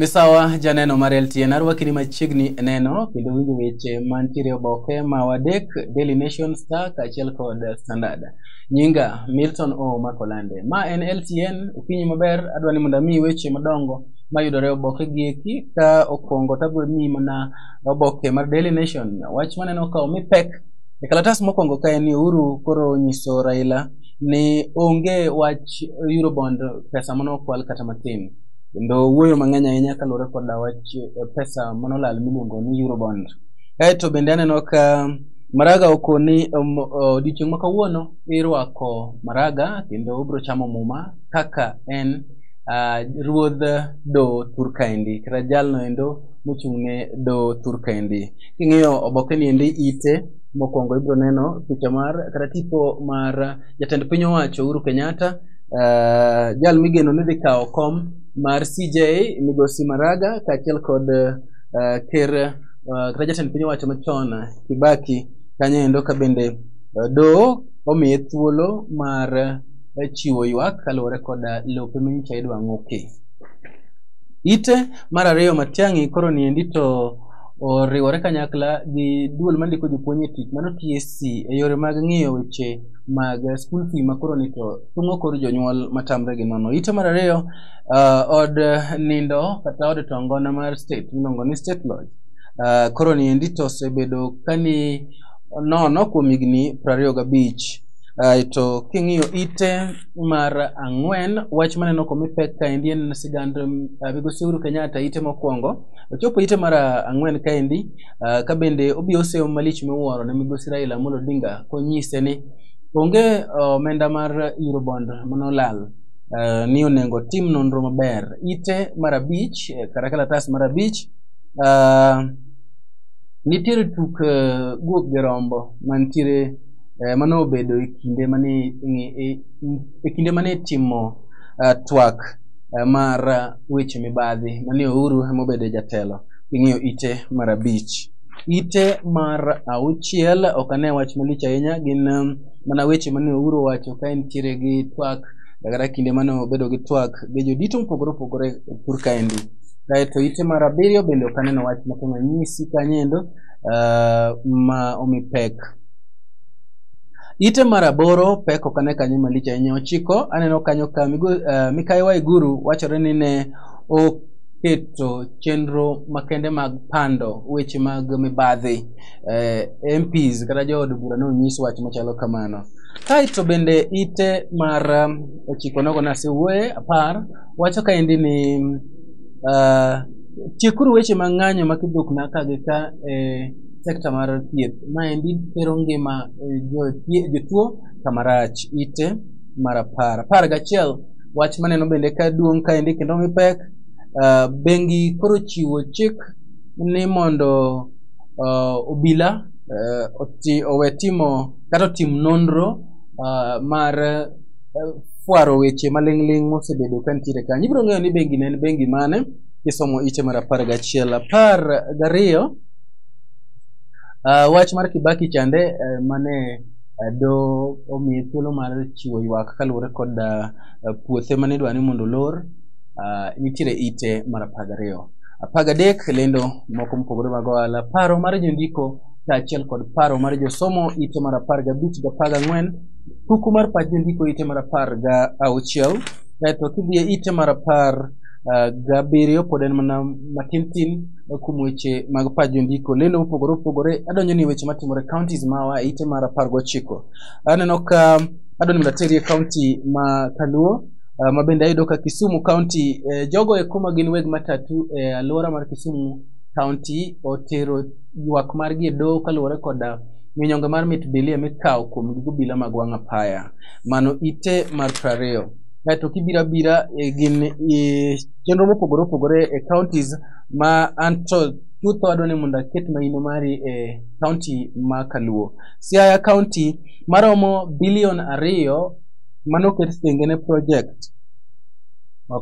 Misawa janeno mar LTN arwakini machiegni e neno kendo winjo weche mantiere e oboke ma wadek Daily Nation Star kaachiel kod Standard. Nyinga Milton O Makolande. Ma en LTN okinyi maber adwa ni mondo amiyi weche madongo mayudore e oboke gi eki ka okwongo tabro miyi mana oboke mar Daily Nation. Wach maneno ka omi pek e kalatas mokwongo ka en ni Uhuru koro onyiso Raila ni onge wach Eurobond pesa mane okwal kata matin. kendo wuoyo mang'eny ahinya kaluwore koda wach eh, pesa manolal miluongo ni eurobond kaeto bende aneno ka maraga okoni um, odiochieng' ma kawuono irwako maraga kendo obiro chamo muma kaka en ah, ruodh do turkaendi kata jalno endo mochung'ne do turkaendi king'iyo obokeni endi ite mokwongo ibiro neno picha mar kata tipo mar jatend piny owacho Uhuru Kenyatta uh, jal migeno ni dhi kawo kom mar CJ Migosi Maraga kaachiel kod uh, ker uh, kata jatend piny owacho machon Kibaki kanyo endo ka bende uh, doho omiye thuolo mar uh, chiwo ywak kaluwore kod uh, lope minyicha idwa ng'oki. Ite mar ariyo Matiang'i koro niendi to oriwore kanyakla gi duol mandiko jopuonj e tich mano TSC e yore mag ng'iyo weche mag school fee ma koro ni to thung'o kor jonyuol matamre gi nono. Ite mar ariyo, uh, od nindo kata od tongona mar state miluongo ni state lodge. Uh, koro ni endi to osebedo kani nono kuom higni prariyo gabich. Uh, to king'iyo ite mar ang'wen, wach maneno komi pek kaendi en sigand uh, migosi Uhuru Kenyatta ite mokwongo. Ochopo ite mar ang'wen kaendi Uh, ka bende obiro seyo malich miwuoro ne migosi Raila Amolo Odinga konyise ni onge omenda uh, mar Eurobond manolal uh, ni onego tim nonro maber ite mar abich eh, kata kalatas mar abich uh, nitiere tuk uh, guok gi rombo mantiere uh, mano obedo e kinde mane e, e kinde mane timo uh, twak uh, mar uh, weche mibadhi mane Uhuru emobedo jatelo ing'iyo ite mar abich. Ite mar auchiel ok ane wach malich ahinya gin um, mana weche mane Ouru owacho ka entiere gi twak kata kinde mane obedo gi twak gi jodito mopogore opogore e pur kaendi. Kaeto ite mar abiriyo bende ok aneno wach moko manyisi kanyendo uh, ma omi pek. Ite mar aboro pek ok ane kanyo malich ahinya. Ochiko aneno kanyo ka migo, uh, Mikayi Waiguru wachore ni ne ok keto chenro makende mag pando weche mag mibadhi eh, MPs kata jood bura ne onyis wach machalo kamano. Kaeto bende ite mar um, ochiko nogo nasewuoye apar wacho kaendi ni uh, tiekuru weche mag ng'anyo ma kidhukna ka gi ka e sekta mar thieth maendi tero ngima eh, jo- jotuo kamarach ite mar apar apar gachiel wach maneno bende ka duong' kaendi kendo mi pek uh, bengi koro chiwo chik ni mondo uh, obila uh, oti, owe timo kata otim nonro uh, mar uh, fwaro weche maling'ling' mosebedo ka nitiere kanyo ibiro ng'eyo ni bengi ne en bengi mane kisomo ite mar apar gachiel apar gariyo uh, wach mar kibaki chande uh, mane eh, do omiye thuolo mar chiwo ywak kaluwore kod ah, puothe mane idwa ni mondo olor ah, nitiere ite mar apar gariyo apar gadek lendo moko mopogore mag ohala paro mar jondiko kaachiel kod paro mar josomo ite mar apar gabich gi apar gang'wen kuku mar pach jondiko ite mar apar ga auchiel kaeto kidhi e ite mar apar ah, gabiriyo pod en mana matin tin kuom weche mag pach jondiko lendo mopogore opogore adonjo ni weche matimore counties mawa e ite mar apar gochiko aneno ka adonjo mondo ateri e county ma kaluo ah, ma bende ayudo ka kisumu county eh, jogo eko ma gin weg matatu e alwora mar kisumu county otero ywak margi e doho kaluwore koda minyonge mar mit bilia mikawo kuom gigo bila mag wang' apaya mano ite mar prariyo kaeto kibiro abira eh, gin eh, chenro mopogore opogore e counties ma anto chutho adwa ni mondo aket maino mari e county ma Kaluo. Siaya county maromo bilion ariyo mano ket thenge ne project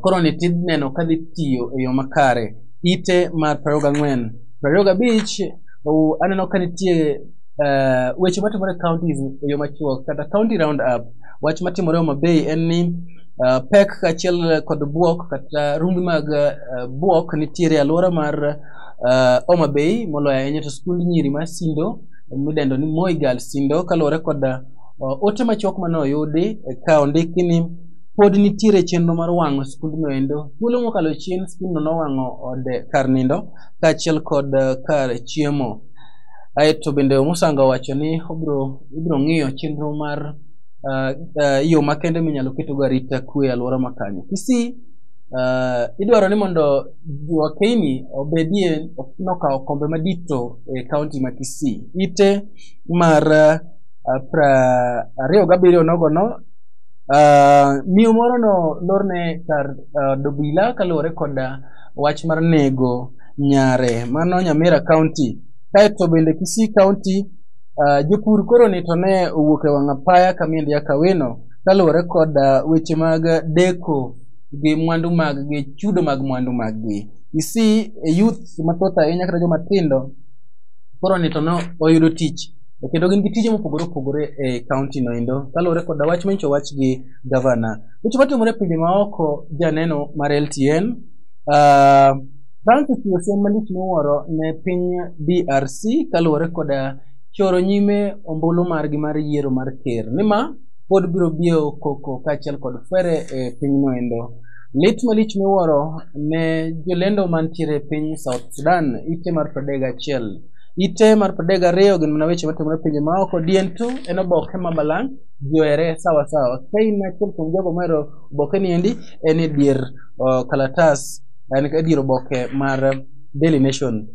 koro ni tid neno ka dhi tiyo e yo makare ite mar 24 25 aneno ka nitie uh, weche matimore counties e yo machuok kata county round up wach matimore Homa Bay en ni Uh, pek kaachiel kod buok kata rumbi mag uh, buok nitiere e alwora mar uh, Homa Bay moloyo ahinya to skund nyiri ma Sindo midendo ni Moi Girls Sindo kaluwore kod uh, ote machuok mane oyudi eh, ka ondiki ni pod nitiere chenro mar wang'o skundno endo. Thuolo mokalo chien skundno nowang'o od kar nindo kaachiel kod uh, kar chiemo. Aeto bende Omusanga owacho ni obiro ibiro ng'iyo chenro mar uh, uh, yo makende minyalo ketogo arita kwe e alwora makanyo kisii uh, idwaro ni mondo wakeini obedie nokawo kombe madito e kaunti ma kisii ite mar uh, pra ariyo gabiriyo nogono uh, miyo moro no lorne kar uh, dobila kaluwore kod wach mar nego nyare mano nyamira kaunti kaeto bende kisii kaunti Uh, jopur koro ni to ne owuok e wang' apaya kamiel ya kawino kaluwore kod uh, weche mag deko gi mwandu mag gi chudo mag mwandu mag gi you see a youth mathoth ahinya kata joma tindo koro ni to ne oyudo tich kendo gin gi tije mopogore opogore e kaunti no endo kaluwore kod wach manyicho wach gi gavana weche matimore e pinje maoko janeno mar LTN uh, Bang' siasa malich miwuoro ne piny DRC kaluwore koda choro nyime ombulu margi mar yiero mar ker nima pod biro biyo koko kaachiel kod fere e pinyno endo. Lit malich miwuoro ne jolendo mantiere e piny South Sudan ite mar 31 ite mar 32 gin mana weche matimore e pinje maoko dientu en oboke ma balang' ji ohere sawa sawa. Kain achiel kuom jogo mohero obokeni endi en e dier o, kalatas en ka dier oboke mar Daily Nation.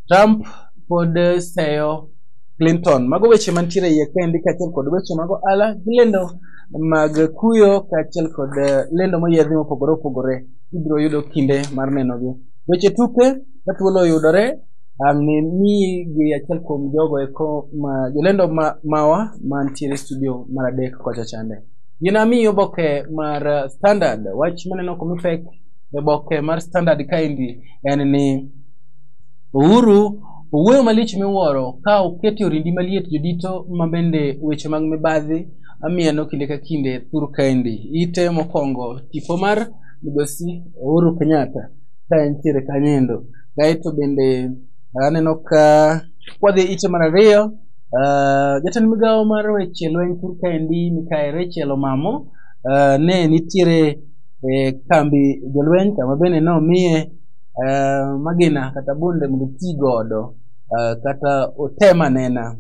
Trump pod seyo Clinton. Mago weche mantiere iye kendi kaachiel kod weche mago ala gi lendo mag kuyo kaachiel kod eh, lendo moyiedhi mopogore opogore ibiro yudo kinde mar nenogi. Weche tuke ka thuolo oyudore ang' ni miyi gi achiel kuom jogo eko ma jolendo ma mawa mantiere studio mar adek kocha chande. Gin amiyi oboke mar eh, Standard wach maneno komipek e boke mar standard kaendi en ni uhuru owuoyo malich miwuoro ka oketo orindi maliet jodito ma bende weche mag mibadhi amieno kinde ka kinde thur kaendi ite mokwongo tipo mar migosi uhuru kenyatta ka entiere kanyendo kaeto bende aneno ka kwadhi ite mar ariyo Uh, jatend migawo mar weche lweny thur kaendi mikae Rachel Omamo uh, ne nitiere e kambi jolweny kama bende nomiye eh, magina kata bunde mondo oti godo eh, kata otem anena.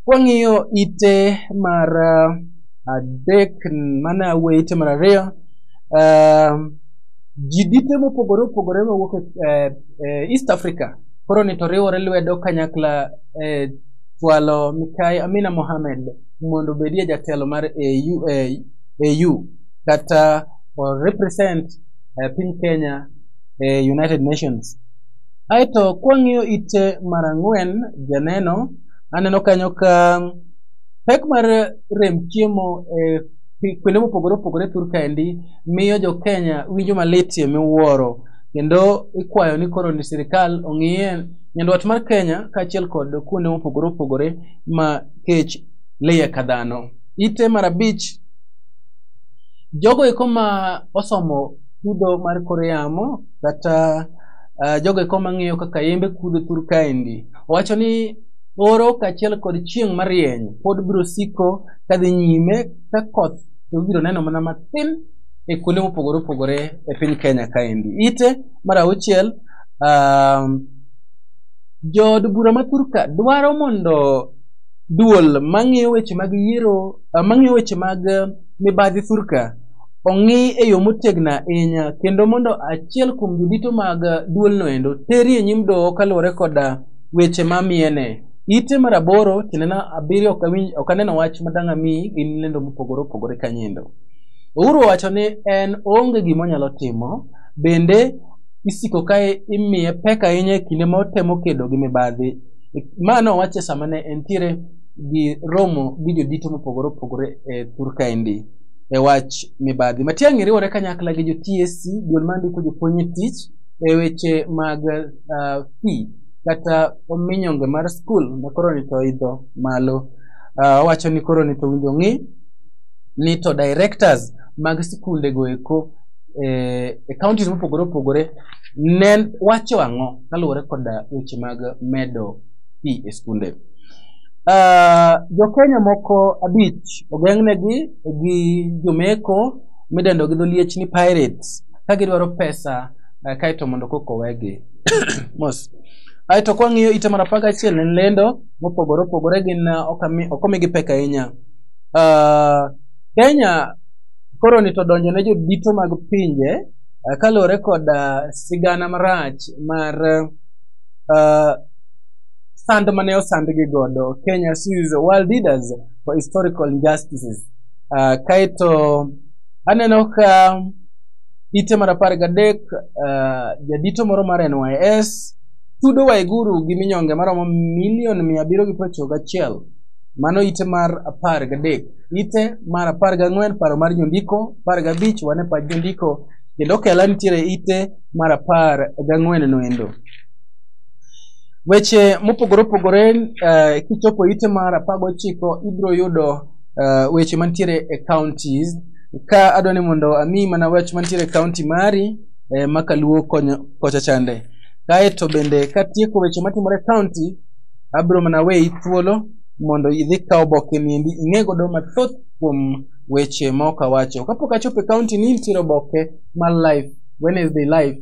Kwang'iyo ite mar eh, adek mane awuoyo ite mar ariyo eh, ji dite mopogore opogore mawuok e eh, East Africa koro ni to riwore lwedo kanyakla e eh, chwalo Mikai Amina Mohamed mondo obedie jatelo mar AU, AU. that uh, or represent uh, piny Kenya e United Nations. Aeto kwang'iyo ite mar ang'wen janeno, aneno kanyo ka pek mar rem chiemo e pi- kuonde mopogore opogore thur kaendi miyo jo Kenya winjo malitie miwuoro kendo ikwayo ni koro ni sirikal ong'iye nyandwat mar Kenya kaachiel kod kuonde mopogore opogore ma kech liye ka dhano. Ite mar abich Jogo eko ma osomo chudo mar kor yamo kata uh, jogo eko mang'iyo kaka yembe kudho thur kaendi wacho ni oro kaachiel kod chieng' marieny pod biro siko kadhi nyime ka koth to ibiro neno mana matin e kuonde mopogore opogore e piny kenya kaendi ite mar auchiel um, jood bura ma thurka dwaro mondo duol mang'iyo weche mag yiero eh, mang'iyo weche mag eh, mibadhi thurka ong'i e yo motegno ahinya kendo mondo achiel kuom jodito mag eh, duolno endo teri e nyim doho kaluwore koda weche mamiene ite mar aboro tiendena abiriyo ok awinj ok aneno wach madang' ami gin lendo mopogore opogore kanyendo uhuru owacho ni en onge gima onyalo timo bende isiko ka imiye pek ahinya e kinde ma otemo kedo gi mibadhi ma nowacho sama ne entiere gi romo gi jodito mopogore opogore e thur kaendi e wach mibadhi. Matiang'i riwore kanyakla gi jo TSC duol mandiko jopuonj e tich e weche mag uh, fee kata minyonge mar skul ma koro ni to idho malo. Uh, owacho ni koro ni to winjo ng'i ni to directors mag sikunde go eko eh, e counties mopogore opogore ne wacho ang'o kaluwore koda weche mag medo fee e skunde. Uh, jokenya moko abich ogeng'negi gi jomeko midendo gi dholiech ni pirates ka gidwaro pesa uh, kaeto mondo koko wegi mos aeto kwang'iyo ite mar apar gachiel en lendo mopogore opogore gin uh, okami- ok omigi pek ahinya uh, kenya koro ni to donjo ne jodito mag pinje uh, kaluwore kod uh, sigana marach mar uh, sand mane osandgi godo kenya sues world leaders for historical injustices uh, kaeto aneno ka ite mar apar gadek uh, jadito moro mar nys tudo waiguru gi minyonge maromo milion mia abiriyo gi prochiko gachiel mano ite mar apar gadek ite mar apar gang'wen paro mar jondiko apar gabich wane pach jondiko kendo kela nitiere ite mar apar gang'wen noendo Weche mopogore opogore eh, kichopo ite mar apar gochiko ibiro yudo eh, weche mantiere e counties ka adwa ni mondo ami mana wach mantiere e county mari eh, ma kaluo konyo kocha chande kaeto bende katieko weche matimore e county abiro mana weyi thuolo mondo idhi kaw oboke niendi ing'e godo mathoth kuom weche ma ok awacho kapok achopo e county ni nitiere oboke mar life Wednesday life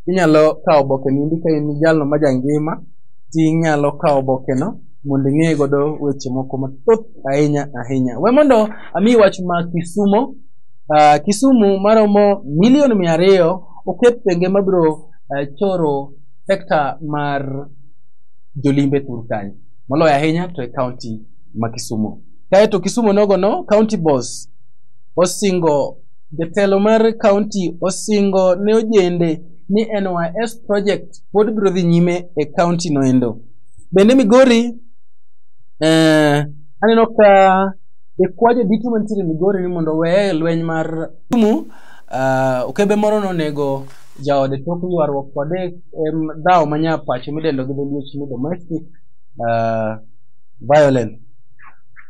Inyalo kawo oboke niendi ka in jalno ma jangima, tinyalo kawo obokeno mondo ing'e godo weche moko mathoth ahinya ahinya. We mondo ami wach ma Kisumo. Uh, Kisumu maromo milion mia ariyo oket thenge mabiro uh, choro sekta mar jolimbe thur kanyo moloyo ahinya to e kaunti ma Kisumu. Kaeto Kisumu nogono kaunti boss osingo Jatelo mar kaunti osingo ne ojende ni NYS project pod biro dhi nyime e kaunti noendo. Bende Migori eh, aneno ka ikwajo duto mantiere Migori ni mondo weye lweny mar Kisumu uh, okebe moro nonego jaode tok ywaruok kode em, dhawo manya pacho midendo gi dholuo ni domestic uh, violence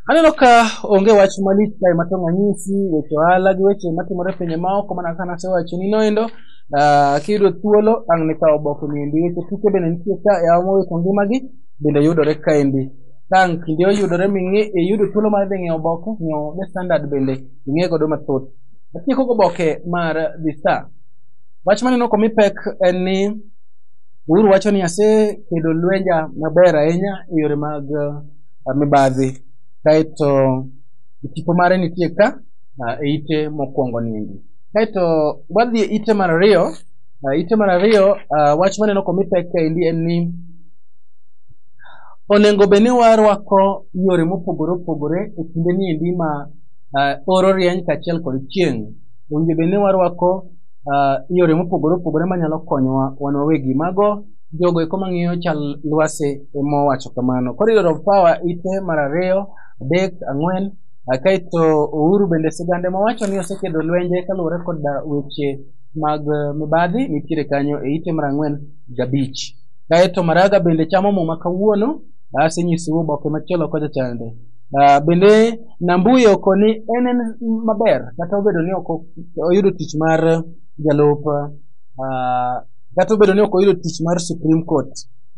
Aneno ka onge wach malich kae ma tong' anyisi weche ohala gi weche matimore e pinje maoko mana kaka nasewacho ni noendo. Ah, kiyudo thuolo ang' nikaw oboke niendi. Weche tuke bende nitie ka e awa mowito ngimagi bende yudore kaendi. Tang' kinde oyudore ming'i iyudo thuolo mar dhi ng'iewo oboke, ng'iewo The Standard bende ing'e godo mathoth. Atieko goboke mar The Star. Wach maneno komi pek en ni Uhuru wacho ni asekedo lwenja maber ahinya e yore mag ah, mibadhi kaeto tipo mare nitie ka ah, e ite mokwongo niendi kaeto wadhi e ite mar ariyo ah, ite mar ariyo ah, wach maneno komi pek kaendi en ni onego bed ni warwako yore mopogore opogore e kinde niendi ma ah, oro rieny kaachiel kod chieng' owinjo bed ni warwako ah, yore mopogore opogore manyalo konyowa wan wawegi mago jogo eko mang'iyo chal lwasi ema owacho kamano. Koro iyudo Rob Power ite mar ariyo, adek, ang'wen, ah, kaeto Uhuru bende sigande mowacho ni osekedo lwenje kaluwore kod ah, weche mag ah, mibadhi nitiere kanyo e ite mar ang'wen gabich. Kaeto Maraga bende chamo muma kawuono, asenyisou oboke machielo kocha chande. Ah, bende Nambuye okoni en en maber kata obedo ni ok oyudo tich mar jalup ah, Kata obedo ni ok oyudo tich mar Supreme Court,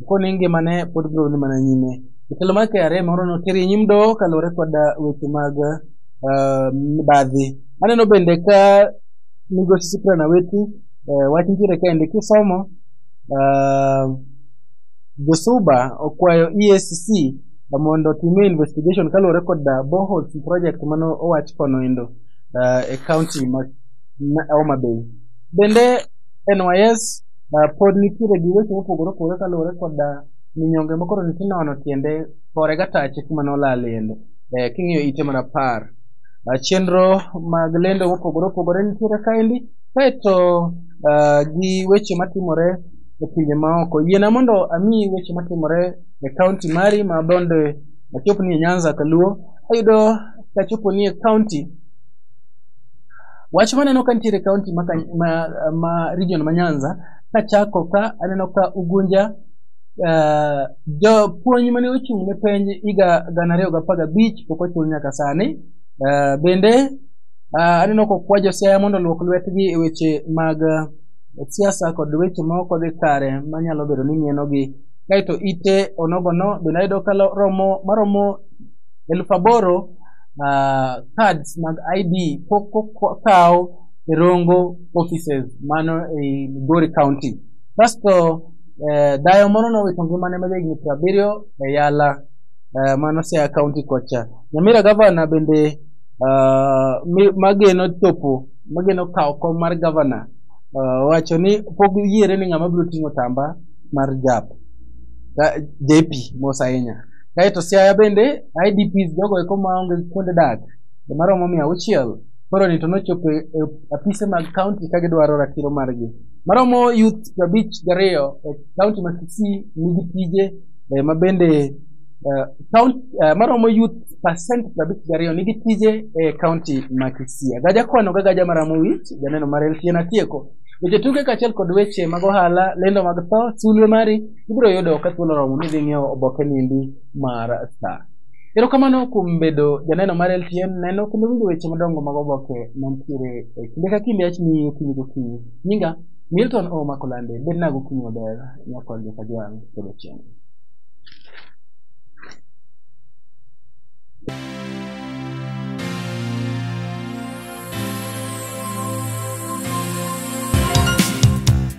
koni ngimane pod biro dhi mana nyime. Jatelo mar KRA moro notere e nyim doho kaluwore kod ah, weche mag ah, mibadhi. Aneno bende ka migosi Cyprian Awiti eh, wach nitiere kaendi kisomo ah, Josuba okwayo EACC mondo otime investigation kaluwore kod ah, boreholes project mane owach kono endo ah, e county ma ma Homa Bay. Bende NYS uh, pod nitiere gi weche mopogore opogore kaluwore koda minyonge ma koro nitie nono tiende fore gatache kuma nolalende eh, king'iyo ite mar apar uh, chenro mag lendo mopogore opogore nitiere kaendi kaeto uh, gi weche matimore e pinje maoko yiena mondo amiyi weche matimore e kaunti mari ma bende achopni e nyanza kaluo ayudo kachopo ni e kaunti Wach maneno ka nitiere kaunti ma, Kany- ma, ma region ma Nyanza kachako ka aneno ka Ugunja uh, jopuonj mane ochung' ne penj higa gana ariyo gi apar gabich pok ochul nyaka sani. Uh, bende uh, aneno kokwa josiaya mondo olwok lwetgi e weche mag uh, siasa kod weche ma ok odhi kare manyalo bedo ni mienogi. Kaeto ite onogono bende ayudo ka lo- romo maromo elfu aboro uh, cards mag id kokaw e rongo offices mano ei migori county kasto uh, dayo moro nowito ngimane ma jahigni piero abiriyo e yala uh, mano siaya county kocha nyamira gavana bende uh, mi- mageno chopo mageno kawo kom mar gavana uh, wacho ni pok yiere ni ng'ama biro ting'o tamba mar jap Ka- JP mos ahinya Kae to Siaya bende, IDPs jogo eko maonge kuonde dak, joma romo mia auchiel, koro ni to nochopo e e apise mag kaunti ka gidwaro ratiro margi. Maromo youth prabich gariyo e kaunti ma Kisii nigi tije eh, ma bende eh, kaun- eh, maromo youth percent prabich gariyo nigi tije e kaunti ma Kisii. Agaja kwano ga gaja maramo wich, janeno mar LTN atieko. Weche tuke kaachiel kod weche mag ohala, lendo mag tho, sulwe mari ibiro yudo ka thuolo oromo ni idhi ng'iewo oboke nindi mar star erokamano kuom bedo janeno mar ltn neno kendo winjo weche madongo mag oboke mantiere e kinde ka kinde achni okinyi gokinyi nyinga milton o makolande bed na gokinyi maber nyakol joka jwang' kendo chieng'